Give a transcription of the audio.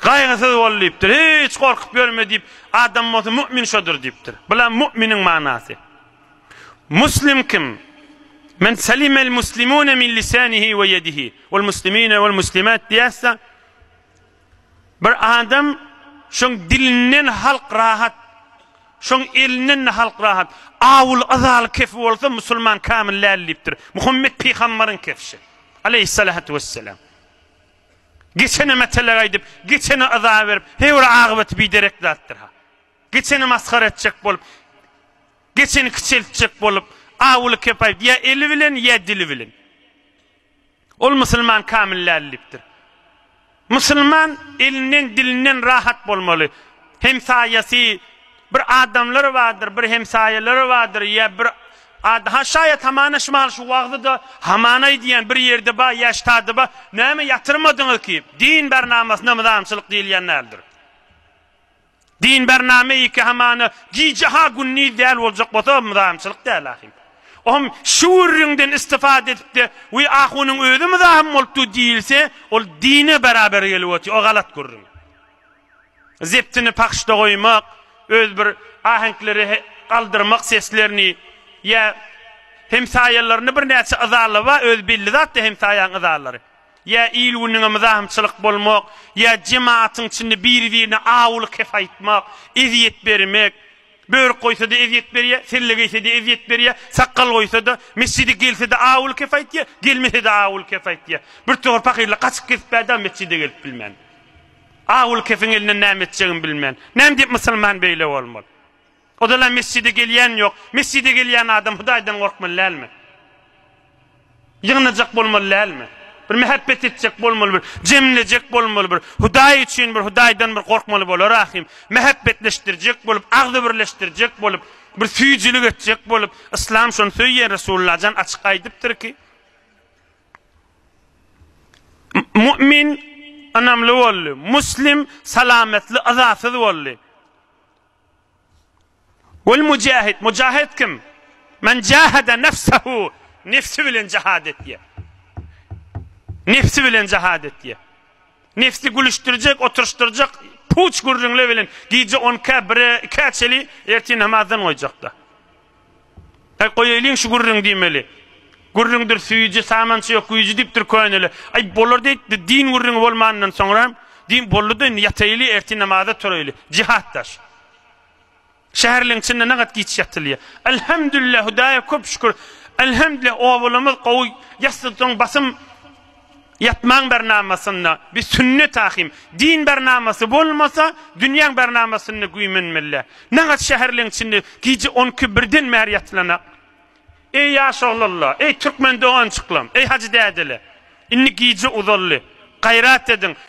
Gaýgysyz bol diýipdir. Hiç gorkup ýörme diýip, adam bolsa mu'min şodur diýipdir. Bula mu'miniň manasy. Muslim kim? Men salimel muslimune min lisanihi we yedihi wal muslimine wal muslimat diýäsä bir adam şoň dilinden halk rahat şoň elinden halk rahat awul azal kefi bolsa musulman kamil däl diýipdir Muhammet pygamberiň kefşi aleyhissalatu vesselam Geçene metelek aýdyp, geçene yza berip, heý bir agybaty biderek zatdyr-ha. Geçeni masgara etjek bolup, geçeni kiçeltjek bolup, awuly kep aýdyp, ýa eli bilen, ýa dili bilen. Ol musulman kamil däl diýipdir. Musulman elinden, dilinden rahat bolmaly. Hem saýasy, Bir adamlary bardyr, bir hemsaýalary bardyr, ýa bir ad, ha, şaýat hamana şumal şu wagzy-da haman aýdýan bir ýerde bar, ýa ştady bar, näme ýatyrmadyňyz ki, din bernamasyna myzamçylyk diýilýän däldir. Din bernama iki hamana gije ha gündiz däl boljak bolsa, o myzamçylyk däl ahim. Ohm şu gürrüňden istifade edip-de, we ahunyň özi myzam bolupdy diýilse, ol dine beraber gelip otyr, o galat gürrüň. Zeptini pahyşda goýmak, öz bir aheňkleri galdyrmak seslerini ýa hemsaýalaryny birnäçe yzalaba öz belli zatda hemsaýaň yzalary. Ýa il-günüňe myzahymçylyk bolmak, ýa jematyň içinde biri-birine awulyk hep aýtmak, ezýet bermek, börük goýsa-da ezýet berýä, selle geýse-de ezýet berýä, sakgal goýsa-da, mesjide gelse-de awulyk hep aýtýa, gelmese-de awulyk hep aýtýa. Birtowar pahyrlar gaçyp gezip bärde mesjide gelip bilmän. Aul Kefiň elinden näme etjegimi bilmen. Näme diýip musulman beýle bolmaly? Oda-la mesjide gelýän ýok. Mesjide gelýän adam Hudaýdan gorkmaly dälmi? Ýygnajak bolmaly dälmi? Bir mähebbet etjek bolmaly bir, jemlejek bolmaly bir, Hudaý üçin bir, Hudaýdan bir gorkmaly bolar ahym. Mähebbetleşdirjek bolup, agzybirleşdirjek bolup, bir süýjülik etjek bolup, Yslam şony söýýär, Resullajan açyk aýdypdyrky. Mu'min ynamly boldy. Muslim salametli, yzasyz boldy. Wal mujahid, mujahid kim? Men jahada nefsehu, nefsi bilen jihad etýär. Nefsi bilen jihad etýär. Nefsi gülüşdirjek, oturşdyrjak, puç gürrüňle bilen gije 10-kä, 1-ä, 2-ä çeli ertir namazdan goýjak-da. Aý, goýaýlyň şu gürrüň diýmeli. Gürrüňdir süýji, samançy ýok güýji diýipdir köneler. Aý, bolar-da indi, din gürrüňi bolmanyndan soňra, din boldy-da indi ýataýly, ertir namaza turaýly. Jihat daş. Şäherliň içinde nagat giç ýatylýar. Elhemdülillah, Hudaýa köp şükür. Elhemdülillah, obalarymyz gowy, ýassydan soň basym, Ýatmaň bernamasynda bi sünne takim. Din bernamasy bolmasa, dünýäň bernamasynda güýmenmeli. Nagat şäherleň içinde gije on iki, birden bäri ýatylana. Eý ýaş oglanlar, eý türkmen dogançyklam, eý hajy dädeler. Indi gije uzaldy. Gaýrat ediň.